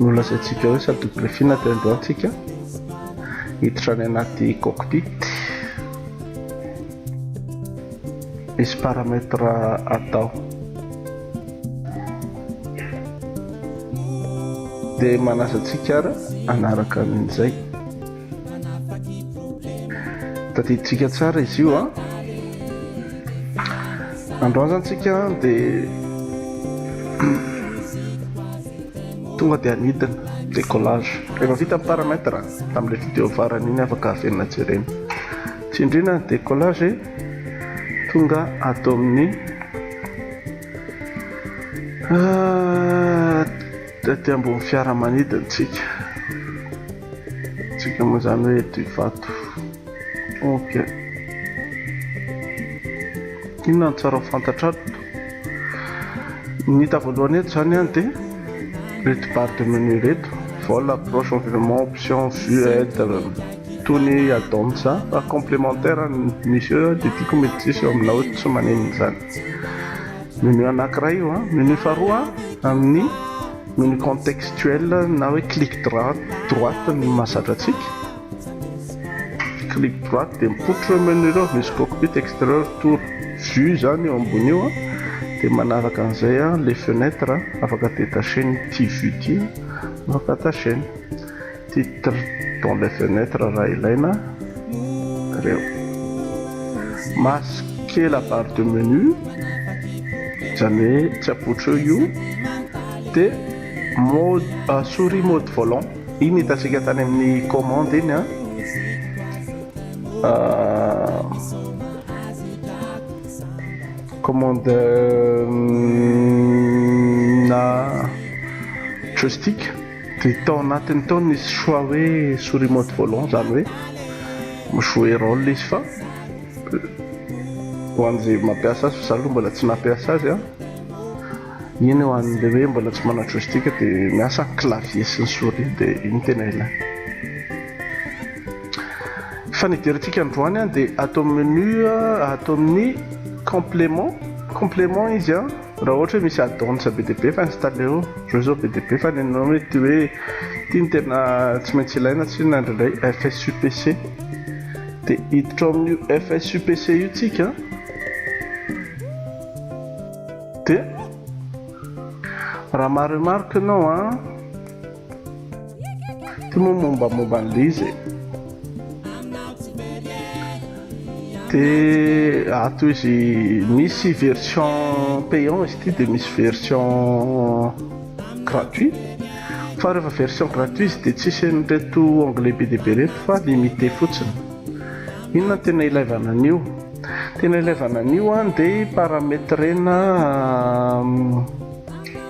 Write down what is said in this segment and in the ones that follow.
Nolazaintsika hoe sady nobriefina teo androany tsika hiditra any anaty cockpit. Misy paramètre atao. Dia manaza antsika ara anaraka an'izay. Tadidintsika tsara izy io a! Androany zany tsika de tonga de anidina décollage, efa vita ny paramètre tamle vidéo farany iny afaka averina jerena, tsindrina ny décollage e! tonga ato amin'ny Tety ambony fiaramanidintsika tsika moa zany hoe eto Ivato ok inona no tsara ho fantatrato ny hita voalohany eto zany an dia reto barre de menu reto vol approche environnement option vue aide tony add-ons fa complémentaire ny misy eo dia tiako mety tsy hisy eo aminao eto tsy maninona zany Menu anankiray io an. Menu faharoa amin'ny menu contextuel na hoe clic droite ny mahazatra antsika. Clic droite dia mipoitra ireo menu ireo, misy cockpit, exterieur, tour, vue izany eo ambony io an. Dia manaraka an'izay an, les fenêtres, afaka détacher ny ity vue ity, afaka attachena. Titre dans les fenêtres raha ilaina reo. Masquer la barre de menu zany hoe tsy apotro eo io de mode souris mode volant iny hitantsika tany amin'ny commande iny an. Commande na joystick. Dia tao anatiny tao nisy choix hoe souris mode volant izany hoe mi-jouer rôle izy fa ho an'izay mampiasa azy fa izaho aloha mbola tsy nampiasa azy an! iny ho an'ilay hoe mbola tsy manana joystick dia miasa ny clavier sy ny souris dia iny tena ilaina. Fa ny hiderintsika androany an dia ato amin'ny menu ato amin'ny complément complément izy an! Raha ohatra hoe misy adonsa be dia be fa installer o, reo zao be dia be fa nenao mety hoe ity no tena tsy maintsy ilaina tsinona indraindray FSUPC de hiditra ao amin'io FSUPC io tsika de raha maha remarque nao a Ity moa mombamomba an'i Liza e. Dia ato izy misy version payant izy ity dia misy version gratuit. Fa rehefa version gratuit izy dia tsisy an'ireto onglet be dia be ireto fa limité fotsiny. Inona no tena ilaivana an'io? Tena ilaivana an'io dia parametrena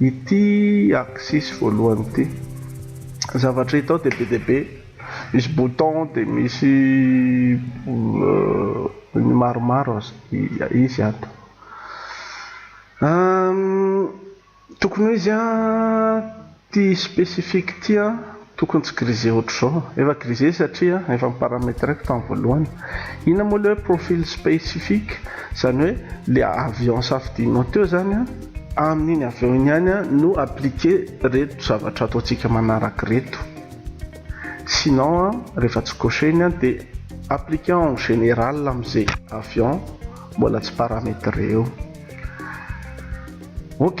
Ity axis voalohany ity. Zavatra hita ao dia be dia be. Misy bouton dia misy ny maromaro aza. Izy ato. Tokony ho izy an. Ty specific ty an tokony tsy grise otrzao. Efa grise satria an efa niparametreko tam voalohany. Inona moa le hoe profil specific? Zany hoe le avion safidininao teo zany an, amin iny avion iny ihany an no appliquer reto zavatra ataontsika manaraka reto. Sinon an rehefa tsy cocher iny an de appliquer en général am ze avion mbola tsy parametre eo. Ok.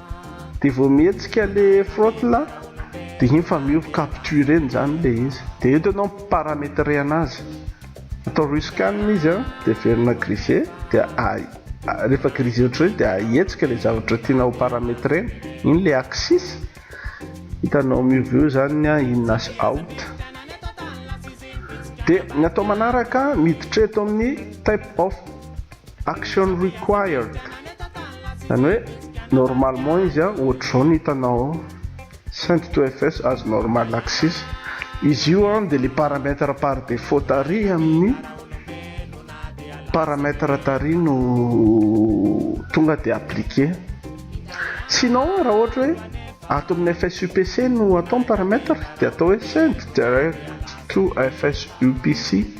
Dia vao mihetsika ilay frot là dia iny fa miova capture eny izany ilay izy. Dia eto ianao mi-parametre anazy. Atao rescan izy an, dia averina grise, dia rehefa grise ohatr'ireny dia ahetsika ilay zavatra tiana ho parametrena. Iny ilay axis. Hitanao miova eo izany ny an in na sy out. Dia ny atao manaraka miditra eto amin'ny type of. Action required, zany hoe normalement izy a ohatr'izao ny hitanao ao, send to fs as normal axis, izy io a dia le paramètre par défaut tarihy amin'ny paramètre tarihy no tonga dia appliquer, sinon raha ohatra hoe ato amin'ny fs upc no atao ny paramètre dia atao hoe send direct to fs upc.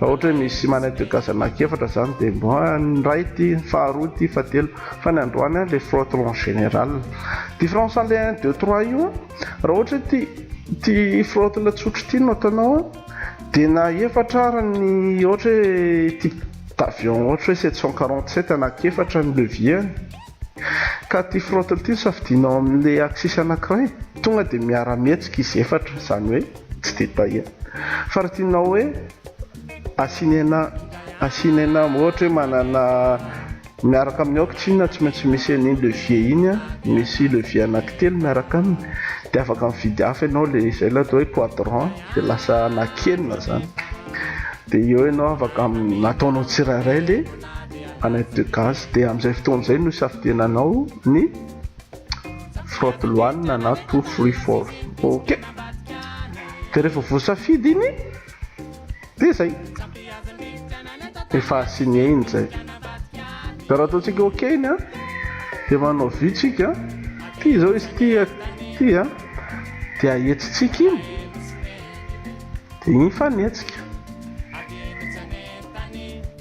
Raha ohatra hoe misy manaitika zanaky efatra izany dia mba ny iray ity, ny faharoa ity, fahatelo. Fa ny androany an le frotron en général. Différence an le un, deux, trois io an, raha ohatra hoe ity ity frotron tsotra ity no ataonao an dia na efatra ara ny ohatra hoe type d'avion ohatra hoe sept cent quarante sept anaky efatra ny levier-ny. Ka ty front ty no safidianao amin'le axis anakiray? Tonga de miara-mihetsika izy efatra, zany hoe tsy de tahiana. Fa raha tianao hoe asiana asiana ohatra hoe manana miaraka amin'ny aoka tsinona tsy maintsy misy an'iny levier iny an, misy levier anakitelo miaraka aminy de afaka mividy hafa ianao le izay le atao hoe quadrant de lasa anakienina zany. De eo ianao afaka ataonao tsirairay le. Annette Degas dia amin'izay fotoana izay no isafidiananao ny Frotte Loanina na Two Free Four. Ok. Dia rehefa voasafidy iny dia izay. Efa signé iny izay. Dia raha ataontsika ok iny a dia manao vue tsika. Ty izao izy ty ty a. Dia ahetsintsika iny. Dia iny fa nihetsika.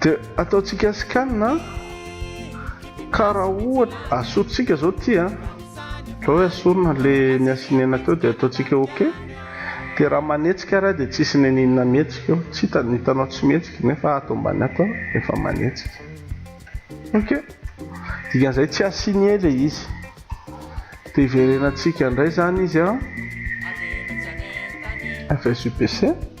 Dia ataontsika scan a, ka raha ohatra asorintsika zao ty a, ohatra hoe asorina le niasinena teo dia ataontsika ok, dia raha manetsika ary aho dia tsisy neninona mihetsika eo, tsy hitany, hitanao tsy mihetsika nefa ato ambany ato efa manetsika, ok, dikan'izay tsy assigne le izy, dia hiverenantsika indray zany izy a, FSUPC.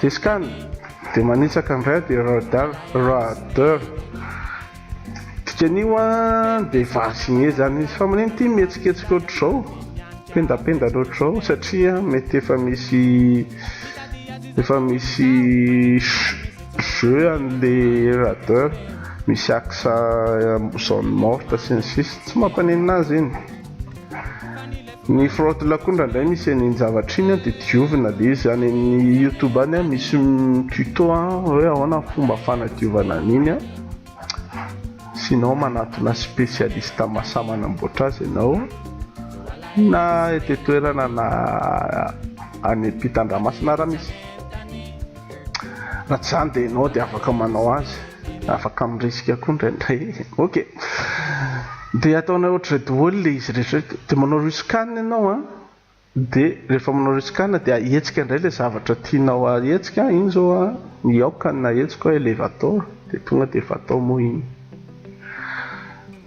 Discan de manitsaka ndray de radar radar dikan'io an de varsine zany izy fa manino ty mihetsiketsika ohatr'izao pendapendana ohatr'izao satria mety efa misy efa misy jeux an'le radar misy axe zone morte sy ny sisa tsy mampaninona azy iny Ny frotle koa indraindray misy an iny zavatra iny an dia diovina dia izy any amin'ny youtube any an misy tuto an hoe ahoana ny fomba fanadiovana an iny an sinon manatona specialiste masa manamboatra azy ianao na eto an-toerana na any am-pitandramasina raha misy. Raha tsy izany dia ianao dia afaka manao azy, afaka mirisika koa indraindray. Ok. Dia ataonay ohatr'izay daholo ilay izy rehetra. Dia manao riscan ianao an. Dia rehefa manao riscan dia ahetsika indray ilay zavatra tianao ahetsika. Iny izao an, ny aoka no nahetsiko hoe elevator. Dia tonga dia efa atao moa iny.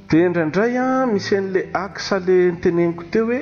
Dia indraindray an, misy an'ilay axe ilay niteneniko teo hoe.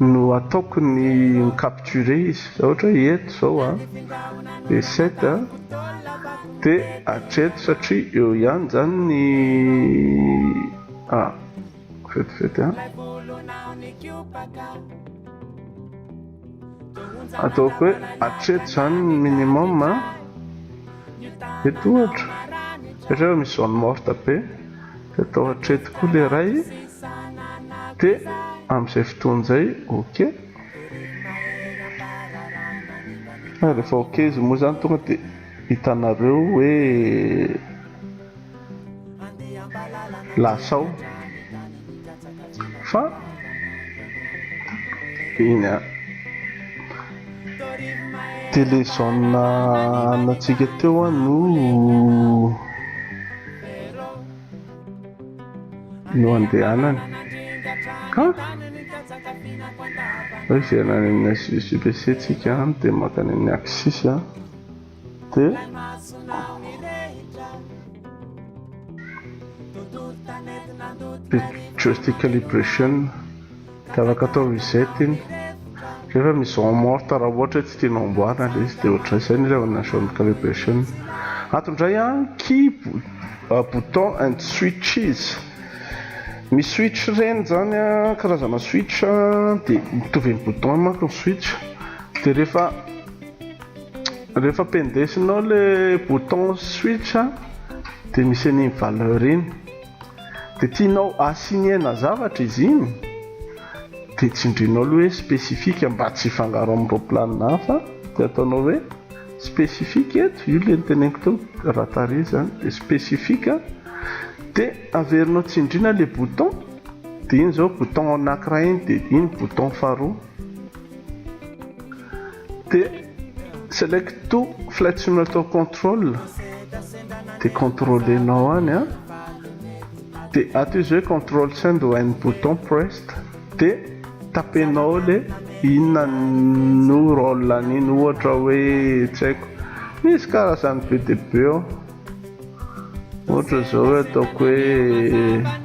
No ataoko ny mi-capturer izy, ohatra hoe eto izao a, dia set a, dia hatreto satria eo ihany izany ny a, vetivety a, ataoko hoe hatreto izany ny minimum a, eto ohatra, ohatra hoe misy zone morte be. De atao hatreto koa le ray e! De amin'izay fotoana izay ok. Ary rehefa ok izy moa zany tonga de hitanareo hoe lasa ao. Fa eny a télé zone anantsika teo a no no andehanany ka hoe hiverina any amin'ny HVBC tsika dia mankany amin'ny Axis a. Dia Joystick calibration dia afaka atao reset iny rehefa mise en morte raha ohatra hoe tsy tianao hamboarina ilay izy dia ohatran'izay izay no ilàna ny jaune calibration. Ato indray an, key, bouton and switches. Misy switch ireny izany an, karazana switch dia mitovy amin'ny bouton manko ny switch dia rehefa. Rehefa pendesinao le bouton switch de misy an'iny valeur iny de tianao assigner-na zavatra izy iny de tsindrinao aloha hoe specifique mba tsy hifangaro amin'ireo planina hafa de ataonao hoe specifique eto, io le noteneniko teo raha tarehy zany de specifique de averinao tsindriana le bouton de iny zao bouton anankiray iny de iny bouton faharoa. Dia select to flight simulator control dia contrôlenao any a dia ato izy hoe control send when bouton pressed dia tapenao le inona no rôle an'iny ohatra hoe tsy haiko misy karazany be dia be ao ohatra izao hoe ataoko hoe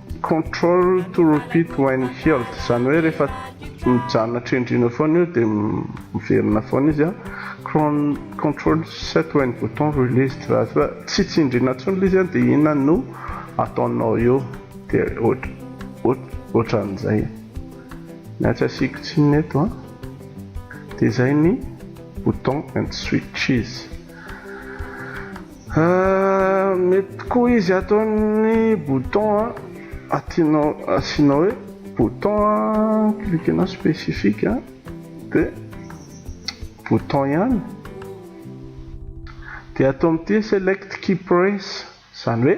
Control to repeat when healed, izany hoe rehefa mijanona trendrina foana io dia miverina foana izy an, cron control set when bouton released, raha toa ka tsy tsindriana intsony ilay izy an dia inona no ataonao eo, dia ohatr ohatr ohatran'izay, na tsy asiako tsiny eto an, dia izay ny bouton and switches. Mety koa izy ato ny bouton atinao asianao hoe bouton cliquenao specifique a de bouton ihany de ato amin'ity select key press izany hoe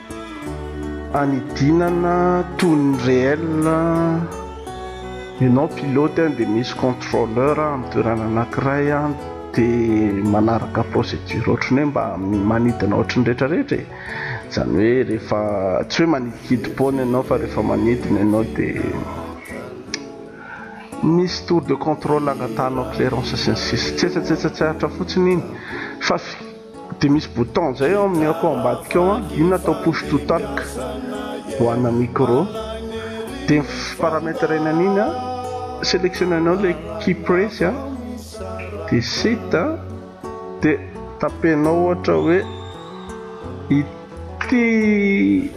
Hanidinana toy ny réel ianao pilote dia misy contrôleur amin'ny toerana anankiray dia manaraka procédure ohatry ny hoe mba manidina ohatry ny rehetra rehetra e! izany hoe rehefa tsy hoe manidikidy pont ianao fa rehefa manidina ianao dia misy tour de contrôle angatanao clérance sy ny sisa tsetsatsetsa tsy aritra fotsiny iny fa Dia misy bouton izay ao amin'ny aoko ao ambadika ao an, iny natao push to talk ho ana micro, dia ny parametrena an'iny an, selectionner-nao ilay key press an, dia set an, dia tapenao ohatra hoe ity. Ty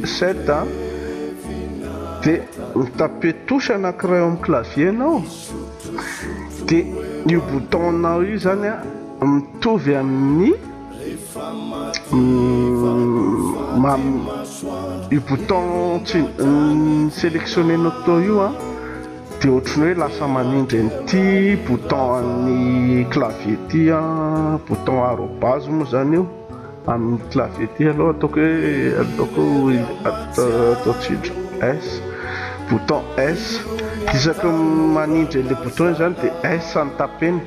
sept a! De mitaper touche anakiray ao amin'ny clavier nao, de io bouton nao io zany a mitovy amin'ny io bouton selectionner nao tao io a, de ohatran'ny hoe lasa manindry an'ity bouton an'ny clavier ty a, bouton arobase moa zany io. Amin'ny clavier ity aloha ataoko hoe ataoko atao tsindro S bouton S isaky ny manindry an'ilay bouton izany dia S no tapeny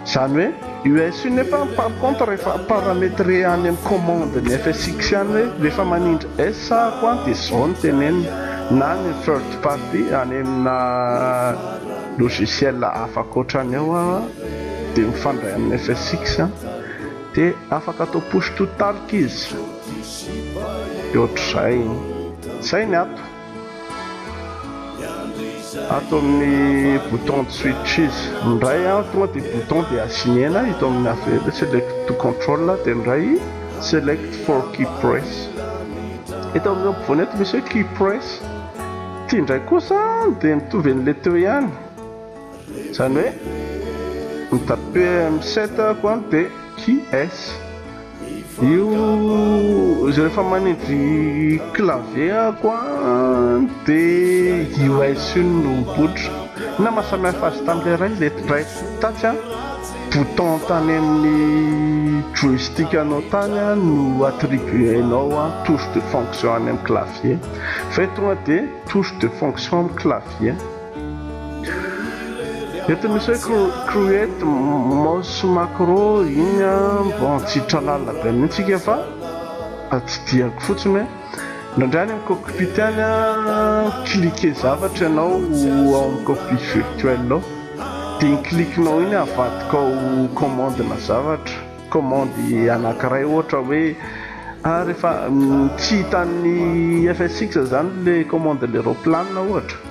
izany hoe io S io nefa par contre rehefa parametre any amin'ny commande ny FSX ihany hoe rehefa manindry S ahako an dia izao no tenenina na ny third party any amina logiciel hafa ankoatra ny ao aho dia mifandray amin'ny FSX an Dia afaka atao push to talk izy. Dia ohatr'izay. Izay ny ato. Ato amin'ny bouton de switch izy. Indray an, tonga dia bouton dia assigner-na ito amin'ny affaires, select to control, dia indray select for key press. Eto amin'ny ampovoany eto misy hoe key press. Ity indray kosa dia mitovy an'ilay teo ihany. Zany hoe ny tape amin'ny set ako an de QS io izy rehefa manindry clavier ako an de US io no mipoitra inona maha samy hafa azy tamin'ilay iray le iray tatsy an bouton tany amin'ny joystick anao tany an no attribuenao an touche de fonction any amin'ny clavier fa eto tonga de touche de fonction amin'ny clavier. Eto misy hoe create mouse macro iny an mba tsy tralalina be mihitsy ika fa tsidihako fotsiny hoe indraindray any amin'ny cockpit any an cliquer zavatra ianao ao amin'ny cockpit virtuel ao dia iny clique nao iny avadikao commande na zavatra commande anankiray ohatra hoe ah rehefa tsy hitan'ny FSX izany ilay commande ilay raoplanina ohatra.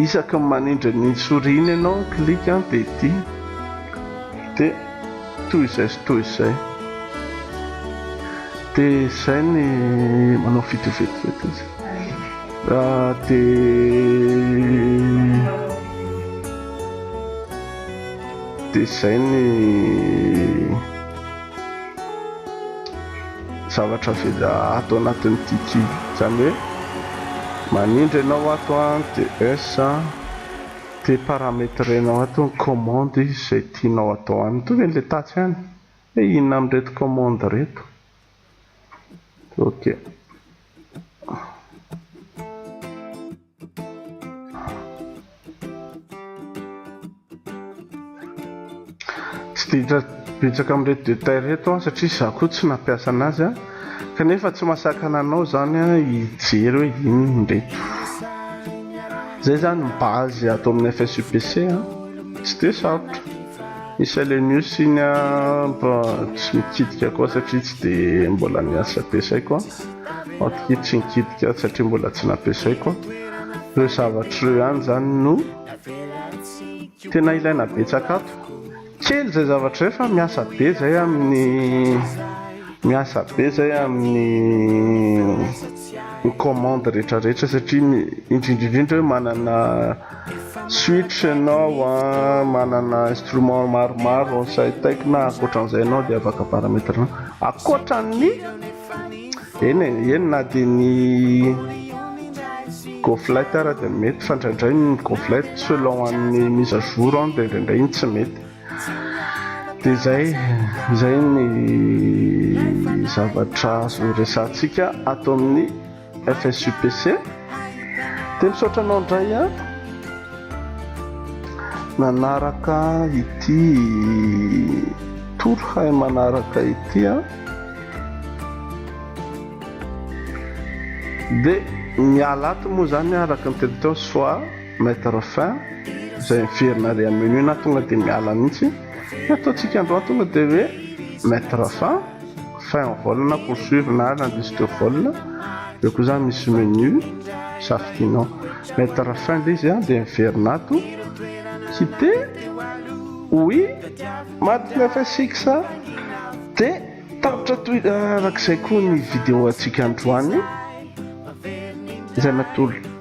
Isaky ny manindry ny souris-ny ianao ny clic an dia ity dia toy izay sy toy izay dia izay ny manao vidéo vetivety izy dia dia izay ny Zavatra vita ato anatin'ity kibo. Izany hoe manindry ianao ato ny TS dia parametrenao ato ny commande izay tianao atao aminy. Mitovy amin'ilay tatsy ihany hoe inona amin'ireto commande ireto. OK. Tsy dia betsaka amin'ireto détails ireto aho satria izaho koa tsy nampiasa anazy a! Kanefa tsy mahasakana anao izany hijery hoe inona ireto. Izay izany ny base ato amin'ny FSUPC a! Tsy dia sarotra. Miscellaneous iny a, mba tsy mikitika koa satria tsy dia mbola niasa be saiko a! Antokia tsy nikitika aho satria mbola tsy nampiasaiko an! Ireo zavatra ireo ihany izany no tena ilaina betsaka ato. Kely izay zavatra izay fa miasa be izay amin'ny miasa be izay amin'ny ny commande rehetra rehetra satria ny indrindra indrindra hoe manana switch ianao an, manana instrument maromaro sahy taikina ankoatran'izay ianao dia afaka parametre-nao ankoatran'ny Eny e, eny na dia ny goflette ara dia mety fa indraindray ny goflette selon amin'ny mise à jour an dia indraindray iny tsy mety dia zay zay ny zavatra azo resahantsika ato amin'ny FSUPC dia misaotra anao indray a nanaraka ity tour hay manaraka ity a dia miala ato moa zany araka ny telo teo soa mettre fin izay miverina ary amin'ny menu na tonga dia miala mihitsy ny ataontsika androany tonga dia hoe mettre fin Fin ny vol na poursuivre na l'indice de vol dia koa zany misy menu safidianao mettre fin ilay izy dia miverina ato quitter oui maty ny fsx dia tapitra toy arak'izay koa ny video antsika androany izay natolo